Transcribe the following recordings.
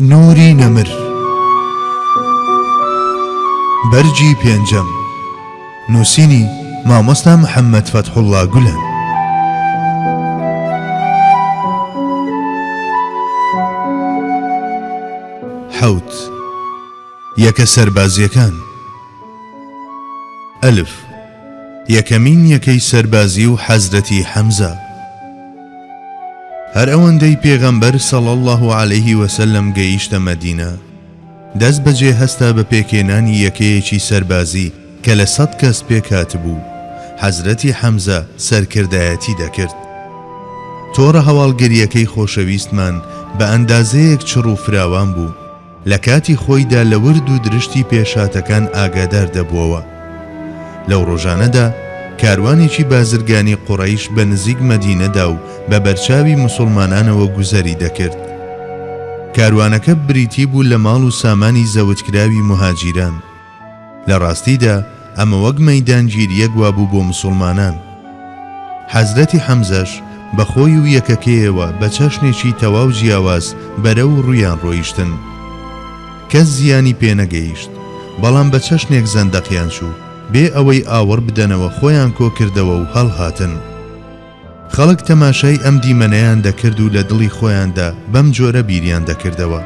نوری نەمر بەرگی پێنجەم نووسینی مامۆستا محەممەد فەتحوڵا گولەن حوت یەکە سەربازیەکان ئەلف یەکەمین یەکەی سەربازی و حەزرەتی حەمزە. هەر ئەوەندەی پێغەمبەر صلی اللە علیە وسلم گەیشتە مەدینە دەست بەجێ هەستا بە پێکهێنانی یەکەیەکی سەربازی کە لە سەد کەس پێکهاتبوو حەزرەتی حەمزە سەرکردایەتی دەکرد تۆڕە هەواڵگریەکەی خۆشەویستمان بە ئەندازەیەک چڕ و فراوان بوو لە کاتی خۆیدا لە ورد و درشتی پێشهاتەکان ئاگادار دەبووەوە. لەو ڕۆژانەدا کاروانێکی بازرگانی قوڕەیش بە نزیک مەدینەدا و بە بەرچاوی موسوڵمانانەوە گوزەری دەکرد. کاروانەکە بریتی بوو لە ماڵ و سامانی زەوتکراوی موهاجیران. لە ڕاستیدا ئەمە وەک مەیدانگیریەک وابوو بۆ مسوڵمانان. حەزرەتی حەمزەش بە خۆی و یەکەکەیەوە بە چەشنێکی تەواو جیاواز بەرەو ڕوویان ڕۆیشتن. کەس زیانی پێ نەگەیشت، بەڵام بە چەشنێک زەندەقیان چوو، بێ ئەوەی ئاوڕ بدەنەوە خۆیان کۆ کردەوە و هەڵهاتن. خەڵک تەماشای ئەم دیمەنەیان دەکرد و لە دڵی خۆیاندا بەم جۆرە بیریان دەکردەوە،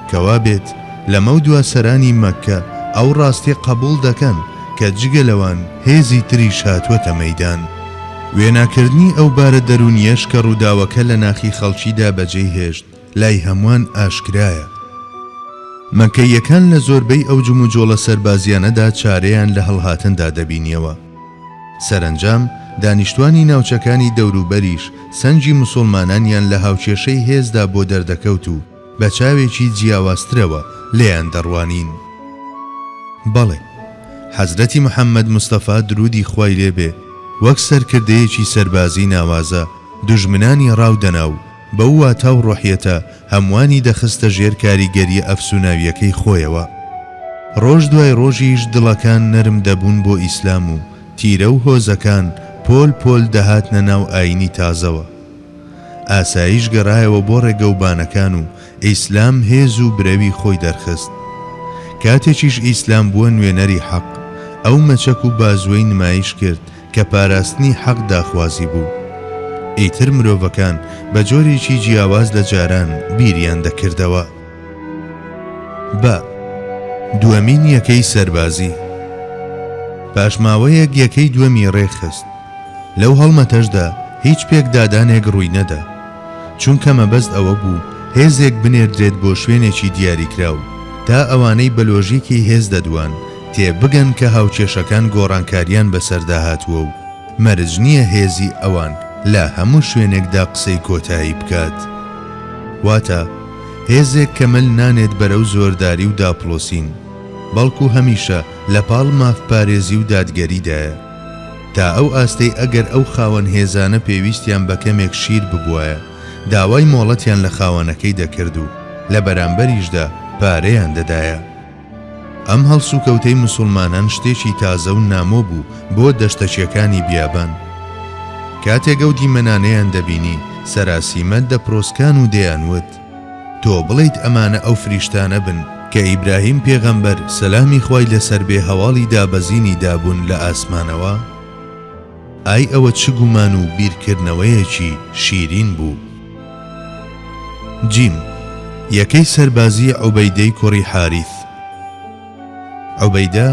کە وا بێت لەمەو دوا سەرانی مەککە ئەو ڕاستیە قەبووڵ دەکەن کە جگە لەوان هێزی تریش هاتووەتە مەیدان. وێناکردنی ئەو بارە دەروونیەش کە ڕووداوەکە لە ناخی خەڵکیدا بەجێی هێشت، لای هەموان ئاشکرایە، مەککەییەکان لە زۆربەی ئەو جموجۆڵە سەربازیانەدا چارەیان لە هەڵهاتندا دەبینیەوە. سەرەنجام دانیشتوانی ناوچەکانی دەوروبەریش سەنگی مسوڵمانانیان لە هاوکێشەی هێزدا بۆ دەردەکەوت و بە چاوێکی جیاوازترەوە لێیان دەڕوانین. بەڵێ، حەزرەتی محەمەد مستەفا دروودی خوای لێ بێ وەک سەرکردەیەکی سەربازی ناوازە دوژمنانی ڕاو دەنا و، بەو واتا و ڕۆحیەتە هەمووانی دەخستە ژێر کاریگەرییە ئەفسوناوییەکەی خۆیەوە. ڕۆژ دوای ڕۆژیش دڵەکان نەرم دەبوون بۆ ئیسلام و تیرە و هۆزەکان پۆل پۆل دەهاتنە ناو ئایینی تازەوە. ئاسایش گەڕایەوە بۆ ڕێگەوبانەکان و ئیسلام هێز و برەوی خۆی دەرخست. کاتێکیش ئیسلام بووە نوێنەری حەق، ئەو مەچەک و بازوەی نمایش کرد کە پاراستنی حەق داخوازی بوو. ئیتر مرۆڤەکان بە جۆرێکی جیاواز لە جاران بیریان دەکردەوە. بە. دووەمین یەکەی سەربازی. پاش ماوەیەک یەکەی دووەمی ڕێکخست. لەو هەڵمەتەشدا هیچ پێکدادانێک ڕووی نەدا. چونکە مەبەست ئەوە بوو هێزێک بنێردرێت بۆ شوێنێکی دیاریکراو، تا ئەوانەی بە لۆژیکی هێز دەدوان، تێ بگەن کە هاوکێشەکان گۆڕانکاریان بەسەردا هاتووە و مەرج نییە هێزی ئەوان لە هەموو شوێنێکدا قسەی کۆتایی بکات. واتە هێزێک کە مل نانێت بەرەو زۆرداری و داپڵۆسین، بەڵکو هەمیشە لە پاڵ مافپارێزی و دادگەریدایە، تا ئەو ئاستەی ئەگەر ئەو خاوەن هێزانە پێویستیان بە کەمێک شیر ببوایە، داوای مۆڵەتیان لە خاوەنەکەی دەکرد و لە بەرامبەریشدا پارەیان دەدایە. ئەم هەڵسوکەوتەی موسوڵمانان شتێکی تازە و نامۆ بوو بۆ دەشتەکیەکانی بیابان. کاتێک ئەو دیمەنانەیان دەبینی، سەراسیمە دەپرۆسکان و دەیان وت، تۆ بڵێیت ئەمانە ئەو فریشتانە بن، کە ئیبراهیم پێغەمبەر، سەلامی خوای لەسەر بێ، هەواڵی دابەزینی دابوون لە ئاسمانەوە؟ ئای ئەوە چ گومان و بیرکردنەوەیەکی شیرین بوو. جیم، یەکەی سەربازی عوبەیدەی کوڕی حاریث. عوبەیدە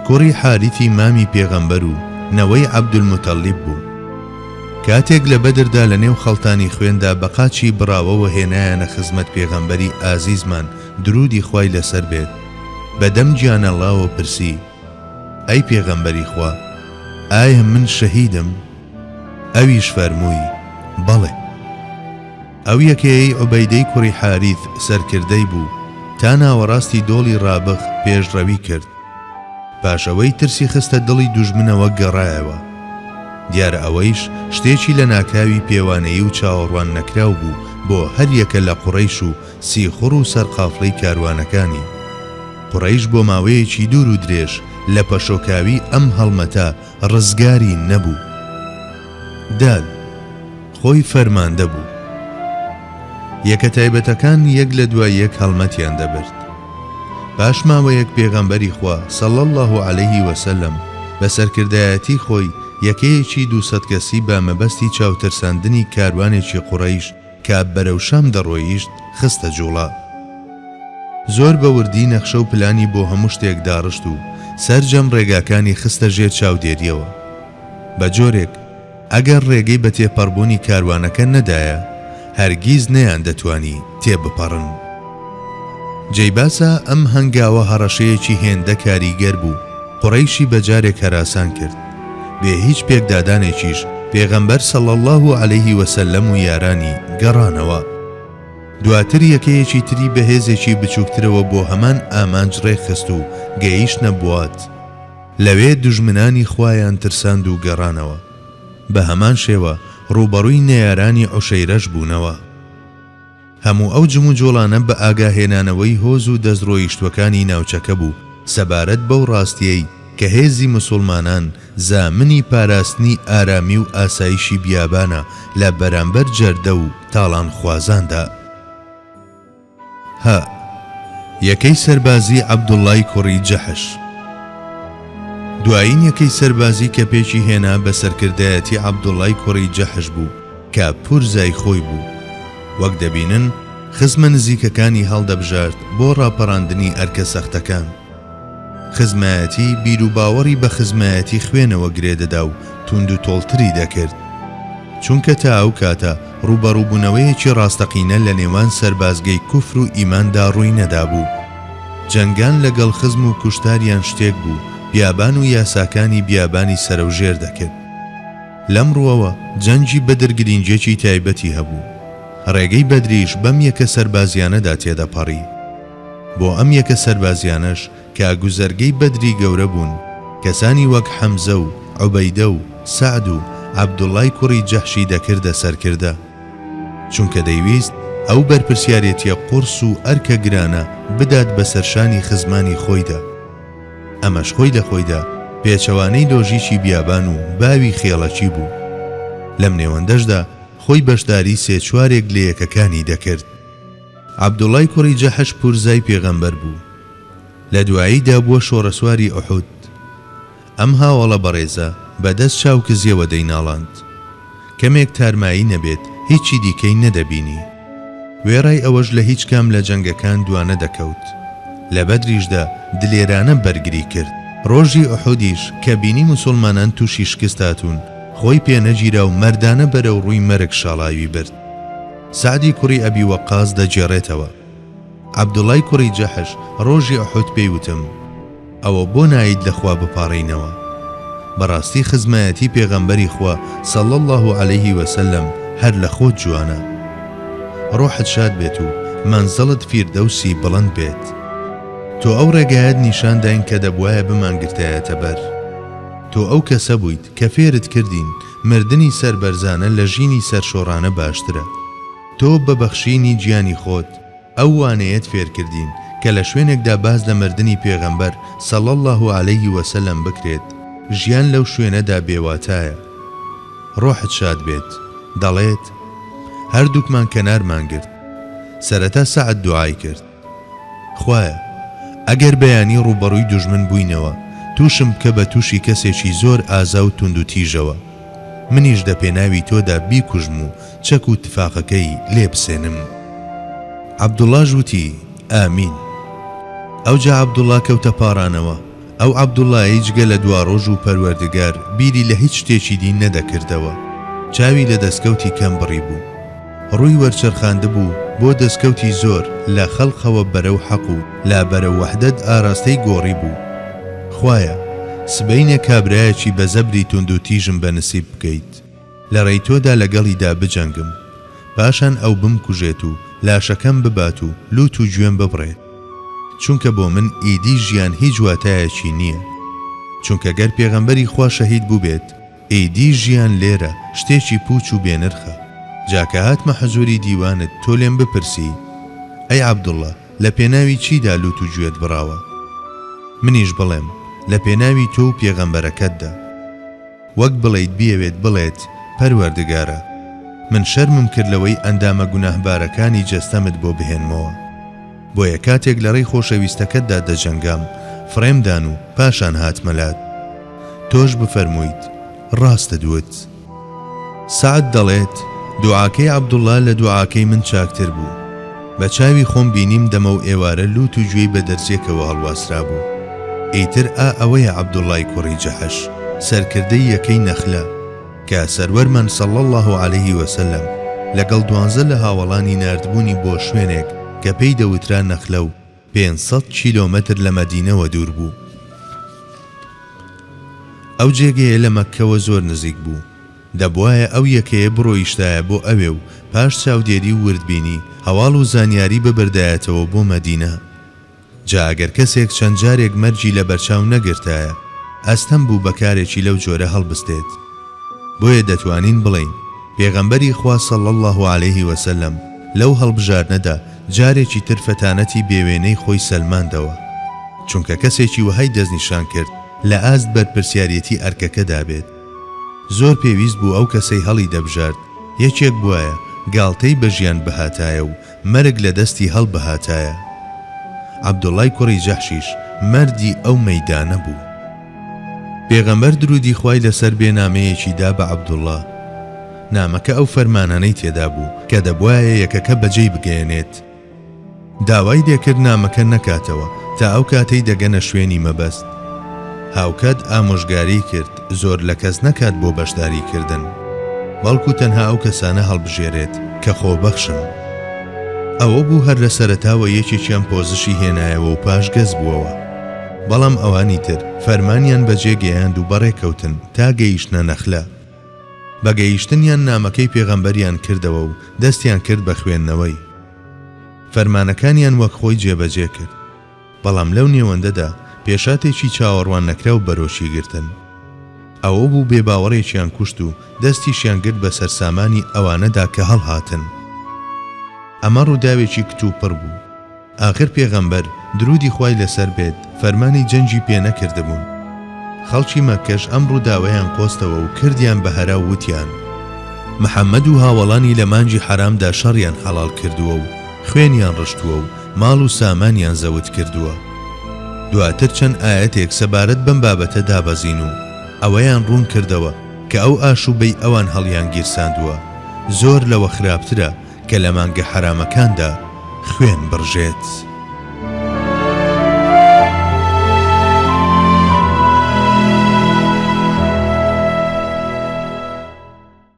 کوڕی حاریثی مامی پێغەمبەر و نەوەی عەبدولموتەڵیب بوو. کاتێک لە بەدردا لە نێو خەڵتانی خوێندا بە قاچی بڕاوەوە هێنایانە خزمەت پێغەمبەری ئازیزمان، دروودی خوای لەسەر بێت، بە دەم گیانەڵاوە پرسی، ئەی پێغەمبەری خوا ئایا من شەهیدم؟ ئەویش فەرمووی، بەڵێ. ئەو یەکەیەی عوبەیدەی کوڕی حاریث سەرکردەی بوو تا ناوەڕاستی دۆڵی ڕابغ پێشڕەوی کرد، پاش ئەوەی ترسی خستە دڵی دوژمنەوە گەڕایەوە، دیارە ئەوەیش شتێکی لەناکاوی پێوانەیی و چاوەڕوان نەکراو بوو بۆ هەر یەکە لە قوڕەیش و سیخوڕ و سەرقافڵی کاروانەکانی قوڕەیش بۆ ماوەیەکی دوور و درێژ لە پەشۆکاوی ئەم هەڵمەتە ڕزگاری نەبوو. داد، خۆی فەرماندە بوو. یەکە تایبەتەکان یەک لە دوای یەک هەڵمەتیان دەبرد. پاش ماوەیەک پێغەمبەری خوا، صلی اللە علیە وسلم، بە سەرکردایەتی خۆی یەکەیەکی دوو سەد کەسی بە مەبەستی چاوترساندنی کاروانێکی قوڕەیش، کە بەرەو شام دەڕۆیشت خستە جوڵە. زۆر بە وردی نەخشە و پلانی بۆ هەموو شتێک داڕشت و سەرجەم ڕێگاکانی خستە ژێر چاودێرییەوە. بە جۆرێک ئەگەر ڕێگەی بە تێپەڕبوونی کاروانەکە نەدایە، هەرگیز نەیاندەتوانی تێبپەڕن. جێی باسە ئەم هەنگاوە هەڕەشەیەکی هێندە کاریگەر بوو، قوڕەیشی بە جارێک هەراسان کرد. بێ هیچ پێکدادانێکیش پێغەمبەر صلی اللە علیه و سلم و یارانی گەڕانەوە. دواتر یەکەیەکی تری بە هێزێکی بچووکترەوە بۆ هەمان ئامانج ڕێکخست و گەیشتنە بوات. لەوێ دوژمنانی خوایان ترساند و گەڕانەوە. بە هەمان شێوە ڕووبەڕووی نەیارانی عوشەیرەش بوونەوە. هەموو ئەو جموجۆڵانە بە ئاگاهێنانەوەی هۆز و دەستڕۆیشتووەکانی ناوچەکە بوو سەبارەت بەو ڕاستییەی کە هێزی موسوڵمانان زامنی پاراستنی ئارامی و ئاسایشی بیابانە لە بەرامبەر جەردە و تاڵانخوازاندا. هە یەکەی سەربازی عەبدوڵڵای کوڕی جەحش دوایین یەکەی سەربازی کە پێکی هێنا بە سەرکردایەتی عەبدوڵڵای کوڕی جەحش بوو، کە پورزای خۆی بوو، وەک دەبینن خزمە نزیکەکانی هەڵدەبژارد بۆ ڕاپەڕاندنی ئەرکە سەختەکان. خزمایەتی بیروباوەڕی بە خزمایەتی خوێنەوە گرێ دەدا و توندوتۆڵتری دەکرد. چونکە تا ئەو کاتە ڕووبەڕووبوونەوەیەکی ڕاستەقینە لە نێوان سەربازگەی کوفر و ئیماندا ڕووی نەدابوو. جەنگان لەگەڵ خزم و کوشتاریان شتێک بوو بیابان و یاساکانی بیابانی سەرەوژێر دەکرد. لەم ڕووەوە جەنگی بەدر گرینگیەکی تایبەتی هەبوو، ڕێگەی بەدریش بەم یەکە سەربازیانەدا تێدەپەڕی، بۆ ئەم یەکە سەربازیانەش کە گوزەرگەی بەدری گەورە بوون، کەسانی وەک حەمزە و عوبەیدە و سەعد و عەبدوڵای کوڕی جەحشی دەکردە سەرکردە، چونکە دەیویست ئەو بەرپرسیارێتیە قوڕس و ئەرکە گرانە بدات بەسەر شانی خزمانی خۆیدا. ئەمەش خۆی لە خۆیدا پێچەوانەی لۆژیکی بیابان و باوی خێڵەکی بوو. لەم نێوەندەشدا خۆی بەشداری سێ چوارێک لە یەکەکانی دەکرد. عەبدوڵای کوڕی جەحش پورزای پێغەمبەر بوو. لە دواییدا بووە شۆڕەسواری ئوحود. ئەم هاوەڵە بەڕێزە بە دەست چاوکزیەوە دەیناڵاند. کەمێک تارمایی نەبێت هیچی دیکەی نەدەبینی. وێڕای ئەوەش لە هیچ کام لە جەنگەکان دوانەدەکەوت. لە بەدریشدا دلێرانە بەرگری کرد. ڕۆژی ئوحودیش کە بینی موسوڵمانان تووشی شکست هاتوون، خۆی پێنەگیرا و مەردانە بەرەوڕووی مەرگ شاڵاوی برد. سەعدی کوڕی ئەبی وەقاس دەگێڕێتەوە، عەبدوڵای کوڕی جەحش ڕۆژی ئوحود پێی وتم، ئەوە بۆ نایت لە خوا بپاڕێینەوە؟ بەڕاستی خزمایەتی پێغەمبەری خوا صلی اللە علیە وسلم هەر لە خۆت جوانە. ڕۆحت شاد بێت و مەنزڵت فیردەوسی بڵند بێت. تۆ ئەو ڕێگایەت نیشان داین کە دەبوایە بمانگرتایەتە بەر. تۆ ئەو کەسە بوویت کە فێرت کردین مردنی سەربەرزانە لە ژینی سەرشۆڕانە باشترە. تۆ بە بەخشینی گیانی خۆت ئەو وانەیەت فێرکردین کە لە شوێنێکدا باس لە مردنی پێغەمبەر صلی اللە علیە وسلم بکرێت ژیان لەو شوێنەدا بێ واتایە. ڕۆحت شاد بێت. دەڵێت، هەردووکمان کەنارمان گرت. سەرەتا سەعد دوعای کرد. خوایە ئەگەر بەیانی ڕووبەڕووی دوژمن بووینەوە تووشم بکە بە تووشی کەسێکی زۆر ئازا و توند و تیژەوە منیش دە پێناوی تۆدا بیکوژم و چەک و تفاقەکەی لێ بسێنم عەبدوڵاش وتی ئامین ئەوجا عەبدوڵا کەوتە پاڕانەوە ئەو عەبدوڵڵایەی جگە لە دواڕۆژ و پەروەردگار بیری لە هیچ شتێکی دی نەدەکردەوە، چاوی لە دەستکەوتی کەم بڕیبوو، ڕووی وەرچەرخاندبوو بۆ دەستکەوتی زۆر لە خەڵقەوە بەرەو حەق و لا بەرەو وەحدەت ئاراستەی گۆڕیبوو. خوایە، سبەینێ کابرایەکی بە زەبری توندوتیژم بە نسیب بکەیت. لە ڕێی تۆدا لەگەڵیدا بجەنگم، پاشان ئەو بمکوژێت و لاشەکەم ببات و لووت و گوێم ببڕێت، چونکە بۆ من ئیدی ژیان هیچ واتایەکی نییە، چونکە گەر پێغەمبەری خوا شەهید بووبێت، ئیدی ژیان لێرە شتێکی پووچ و بێنرخە، جا کە هاتمە حزووری دیوانت تۆ لێم بپرسی، ئەی عەبدوڵڵا، لە پێناوی چیدا لووت و گوێت بڕاوە؟ منیش بڵێم، لە پێناوی تۆ و پێغەمبەرەکەتدا. وەک بڵێیت بیەوێت بڵێت، پەروەردگارە! من شەرمم کرد لەوەی ئەندامە گوناهبارەکانی جەستەمت بۆ بهێنمەوە. بۆیە کاتێک لەڕێی خۆشەویستەکەتدا دەجەنگام، فڕێمدان و پاشان هاتمە لات. تۆش بفەرموویت، ڕاستت وت. سەعد دەڵێت، دوعاکەی عەبدوڵڵا لە دوعاکەی من چاکتر بوو. بە چاوی خۆم بینیم دەمە و ئێوارە لووت و گوێی بە دەرزییەکەوە هەڵواسرابوو. ئیتر ئا ئەوەیە عەبدوڵڵای کوڕی جەحش، سەرکردەی یەکەی نەخلە، کە سەروەرمان صلی اللە علیه و سلم لەگەڵ دوانزە لە هاوەڵانی ناردبوونی بۆ شوێنێک کە پێی دەوترا نەخلە و، پێنج سەد کیلۆمەتر لە مەدینەوە دوور بوو. ئەو جێگەیە لە مەککەوە زۆر نزیک بوو. دەبوایە ئەو یەکەیە بڕۆیشتایە بۆ ئەوێ و پاش چاودێری و وردبینی، هەواڵ و زانیاری ببردایەتەوە بۆ مەدینە. جا ئەگەر کەسێک چەند جارێک مەرگی لە بەرچاو نەگرتایە، ئەستەم بوو بە کارێکی لەو جۆرە هەڵبستێت. بۆیە دەتوانین بڵێین پێغەمبەری خوا صلی اللە علیه وسلم لەو هەڵبژاردنەدا جارێکی تر فەتانەتی بێوێنەی خۆی سەلماندەوە، چونکە کەسێکی وەهای دەستنیشان کرد لە ئاست بەرپرسیاریەتی ئەرکەکەدا بێت. زۆر پێویست بوو ئەو کەسەی هەڵیدەبژارد یەکێک بوایە گاڵتەی بە ژیان بهاتایە و مەرگ لە دەستی هەڵبهاتایە. عەبدوڵای کوڕی جەحشیش مەردی ئەو مەیدانە بوو. پێغەمبەر دروودی خوای لەسەر بێ نامەیەکی دا بە عەبدوڵا. نامەکە ئەو فەرمانانەی تێدا بوو کە دەبوایە یەکەکە بەجێی بگەیەنێت. داوای لێکرد نامەکە نەکاتەوە تا ئەو کاتەی دەگەنە شوێنی مەبەست. هاوکات ئامۆژگاری کرد زۆر لە کەس نەکات بۆ بەشداری کردن، بەڵکو تەنها ئەو کەسانە هەڵبژێرێت کە خۆبەخشن. ئەوە بوو هەر لە سەرەتاوە یەکێکیان پۆزشی هێنایەوە و پاش گەز بووەوە، بەڵام ئەوانی تر فەرمانیان بەجێ گەیاند و بەڕێکەوتن تا گەیشتنە نەخلە. بە گەیشتنیان نامەکەی پێغەمبەریان کردەوە و دەستیان کرد بە خوێندنەوەی. فەرمانەکانیان وەک خۆی جێبەجێ کرد. بەڵام لەو نێوەندەدا پێشاتێکی چاوەڕوان نەکراو بەرۆکی گرتن ئەوە بوو بێباوەڕێکیان کوشت و دەستیشیان گرت بە سەرسامانی ئەوانەدا کە هەڵهاتن. ئەمە ڕووداوێکی کتوپڕ بوو. ئاخر پێغەمبەر، دروودی خوای لەسەر بێت، فەرمانی جەنگی پێ نەکردبوون. خەڵکی مەککەش ئەم ڕووداوەیان قۆستەوە و کردیان بە هەرا و وتیان، محەممەد و هاوەڵانی لە مانگی حەرامدا شەڕیان حەڵاڵ کردووە و خوێنیان ڕشتووە و ماڵ و سامانیان زەوت کردووە. دواتر چەند ئایەتێک سەبارەت بەم بابەتە دابەزین و ئەوەیان ڕوون کردەوە کە ئەو ئاشووبەی ئەوان هەڵیانگیرساندووە زۆر لەوە خراپترە کە لە مانگە حەرامەکاندا خوێن بڕژێت.